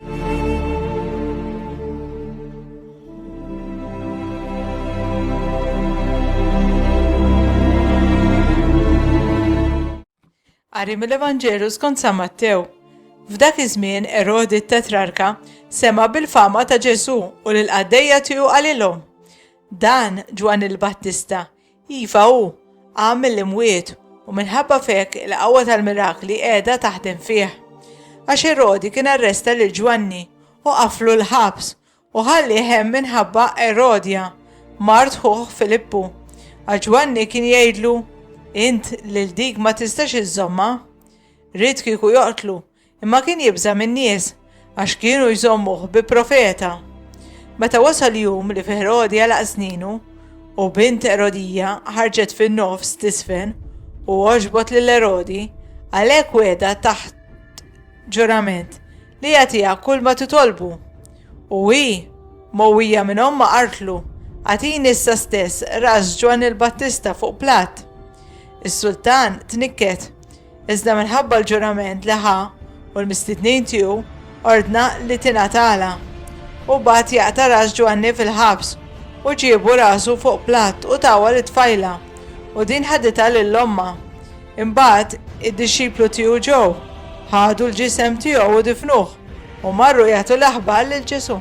Qari mill-Evanġelu skont San Mattew. F'dak iż-żmien Erodi t-Tetrarka sema' bil-fama ta' Ġesù u lil qaddejja tiegħu qalilhom, Dan Ġwanni l-Battista Iva hu, qam mill-imwiet, u minħabba f'hekk il-qawwa tal-mirakli qiegħda taħdem fih. Għax Erodi kien arresta lil Ġwanni u qaflu l-ħabs, u ħallieh hemm minħabba Erodja, mart ħuh Filippu. Għax Ġwanni kien jgħidlu, Int lil dik ma tistax iżżommha. Ried kieku joqtlu, Imma kien jibża' min-nies, għax kienu jżommuh bi profeta. Meta wasal jum li fi Ħerodi għalaq sninu, u bint Erodija ħarġet fin-nofs tisfen u għoġbot lil Ħerodi, għalhekk wegħda taħt ġurament li jagħtiha kull ma titolbu. U hi, mowwija minn omma qartlu, għatini issa stess ras Ġwanni l-Battista fuq platt. Is-sultan tnikket Iżda minħabba l-ġurament li ħa u l-mistednin tiegħu, ordna li tingħatalha. U bagħat jaqta' ras Ġwanni fil-ħabs, u ġiebu rasu fuq platt u tawha lit-tfajla, u din ħaditha lil ommha. Imbagħad id-dixxiplu tiegħu ġew, ħadu l-ġisem tiegħu u difnuh, u marru jagħtu l-aħbar lil Ġesù.